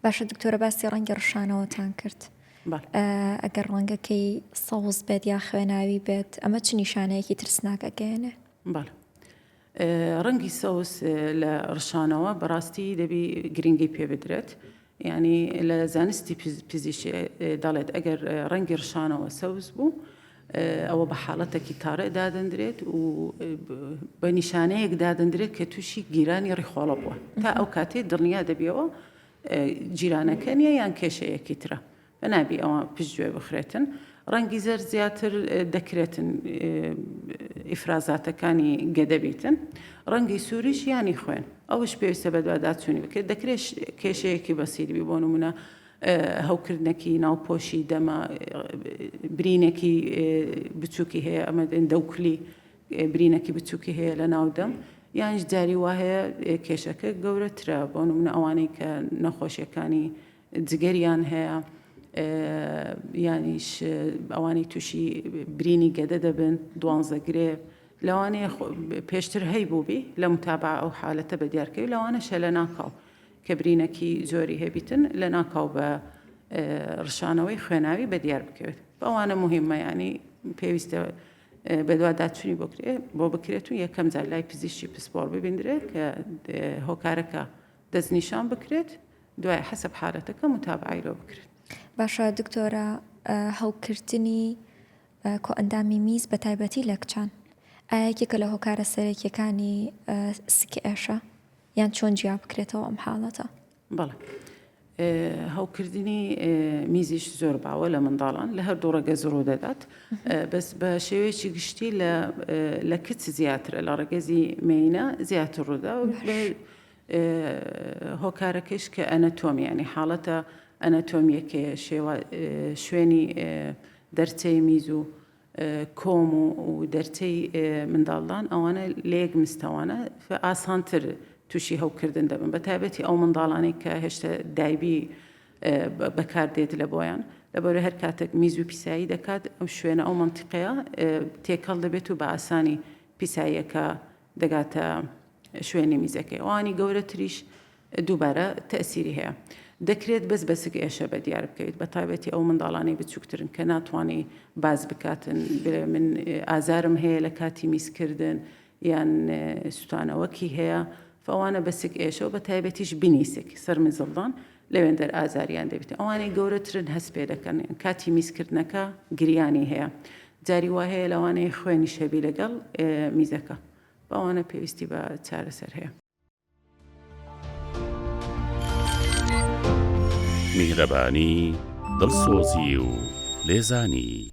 باشە دکتۆرە باسی ڕەنگی ڕشانەوەتان کرد ئەگەر ڕەنگەکەی سەوز بێت یا خوێناوی بێت ئەمە چ نیشانەیەکی ترسناکەگەێنێ بەڵ ڕەنگی سەوز لە ڕشانەوە بەڕاستی دەبی گرنگی پێ بدرێت ینی لە زانستی پزیشێ دەڵێت ئەگەر ڕەنگی ڕشانەوە سەوز بوو ئەوە بە حاڵەتەکی تاڕێ دادەندرێت و بە نیشانەیەک دادەندرێت کە تووشی گیرانی ڕیخۆڵە بووە تا ئەو کاتێ دڵنیا دەبیەوە جیرانەکە نیە یان کێشەیەکی ترە بە نابی ئەوە پشت گوێ بخرێتن ڕەنگی زەر زیاتر دەکرێتن ئیفرازاتەکانی گەدەبیتن ڕەنگی سووریش یانی خوێن ئەوش پێویستە بەدواداچوونی بکرێت دەکرێت کێشەیەکی بەسیربی بۆ نمونە هەوکردنەکی ناو پۆشی دەمە برینەکی بچووکی هەیە ئەمە دێن دەوکلی برینەکی بچووکی هەیە لە ناو دەم یانش جاری وا هەیە کێشەکە گەورەترە بۆ نمونە ئەوانەی کە نەخۆشیەکانی جگەریان هەیە یانیش ئەوانی تووشی برینی گەدە دەبن دوانزەگرێ لەوانەیە پێشتر هەی بووبی لە متابع ئەو حالەتە بە دیارکەوی لەوانە شەلە ناکاو کە برینەکی زۆری هەبیتن لەناکاو بە ڕشانەوەی خوێناوی بەدیار بکەوێت بەوانە مهمە ینی پێویستە بەدواداچووی بکرێ بۆ بکرێت و یەکەم جار لای پزیشتی پسپۆر ببیندرێت کە هۆکارەکە دەستنیشان بکرێت دوای حەسب حالەتەکە متابعی لۆ بکرێت باشە دکتۆرە هەڵکردنی کۆئەندامی میز بە تایبەتی لە کچان ئایەکێکە لە هۆکارە سەرەکیەکانی سکئێشە یان چۆن جیا بکرێتەوە ئەم حاڵەتە؟ بەڵێ. هەوکردنی میزیش زۆر باوە لە منداڵان لە هەردوو ڕەگە زڕوو دەدات بەس بە شێوەیەکی گشتی لە کچ زیاترە لە ڕەگەزی مینە زیاتر ڕوودا هۆکارەکەش کە ئەنەتۆمیانی حاڵەتە ئەنەتۆمیەکەیە شێوە شوێنی دەرچەی میز و کۆم و دەرچەی منداڵدان ئەوانە لەیەک مستەوانە ئاسانتر توشی هەوکردن دەبن بەتایبەتی ئەو منداڵانەی کە هێشتا دایبی بەکاردێت لە بۆیان لەبەر هەر کاتێک میز و پیسایی دەکات ئەو شوێنە ئەو منتیقەیە تێکەڵ دەبێت و بە ئاسانی پیساییەکە دەگاتە شوێنی میزەکەی ئەوانی گەورەتریش دووبارە تەئسیری هەیە. دەکرێت بەس بە سک ئێشە بە دیار بکەویت بە تایبەتی ئەو منداڵانەی بچوکترن کە ناتوانی باس بکاتن بلێ من ئازارم هەیە لە کاتی میز کردن یان سوتانەوەکی هەیە فەوانە بە سک ئێشە و بە تایبەتیش بنی سک سەر مزڵدان لەوێندەر ئازاریان دەبیت ئەوانەی گەورەترن هەست پێ دەکەن کاتی میز کردنەکە گریانی هەیە جاری وا هەیە لەوانەیە خوێنیش هەبی لەگەڵ میزەکە بەوانە پێویستی بە چارەسەر هەیە. میهرەبانی، دڵسۆزی و لێزانی.